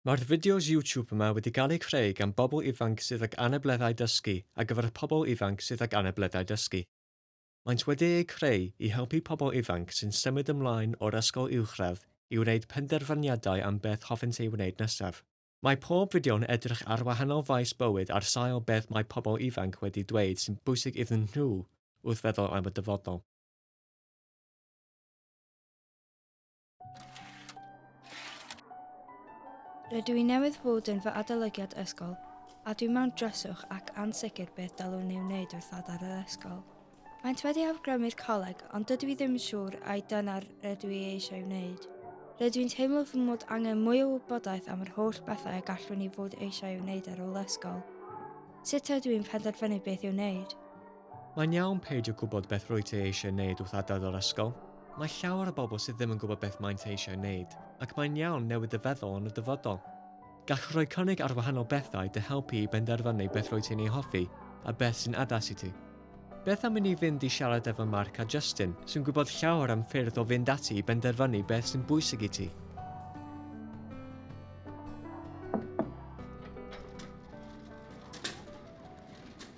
Mae'r fideos YouTube yma wedi gael eu creu gan bobl ifanc sydd ag anableddau dysgu ar gyfer y pobl ifanc sydd ag anableddau dysgu. Maent wedi eu creu i helpu pobl ifanc sy'n symud ymlaen o'r ysgol uwchradd i wneud penderfyniadau am beth hoffent ei wneud nesaf. Mae pob fideo'n edrych ar wahanol faes bywyd ar sail beth mae pobl ifanc wedi dweud sy'n bwysig iddyn nhw wrth feddwl am y dyfodol. Rydw i newydd fod yn fy adolygiad ysgol, a dwi mewn dryswch ac ansicr beth dylwn ei wneud wrth adael yr ysgol. Maent wedi awgrymu'r coleg, ond dydw i ddim yn siŵr ai dyna'r rydw i eisiau wneud. Rydw i'n teimlo fy mod angen mwy o wybodaeth am yr holl bethau y gallwn i fod eisiau ei wneud ar ôl ysgol. Sut ydw i'n penderfynu beth i'w wneud? Mae'n iawn peidio gwybod beth rwyt ti eisiau wneud wrth adael yr ysgol. Mae llawer o bobl sydd ddim yn gwybod beth maent eisiau wneud, ac mae'n iawn newid dy feddwl yn y dyfodol. Gall rhoi cynnig ar wahanol bethau dy helpu i benderfynu beth rwyt ti'n ei hoffi a beth sy'n addas i ti. Beth am i ni fynd i siarad efo Mark a Justin, sy'n gwybod llawer am ffyrdd o fynd ati i benderfynu beth sy'n bwysig i ti.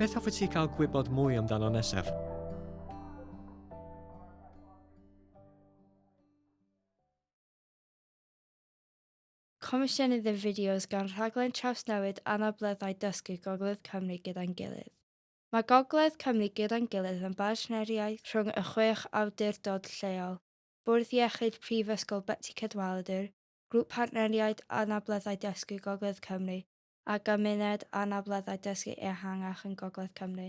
Beth hoffet ti cael gwybod mwy amdano nesaf? Comisiynydd y fideos gan rhaglen trawsnewid anableddau dysgu Gogledd Cymru gyda'n gilydd. Mae Gogledd Cymru gyda'n gilydd yn bartneriaeth rhwng y chwech awdurdod lleol, Bwrdd Iechyd Prifysgol Betsi Cadwaladr, Grŵp Partneriaid Anableddau Dysgu Gogledd Cymru a Gymuned Anableddau Dysgu Ehangach yn Gogledd Cymru.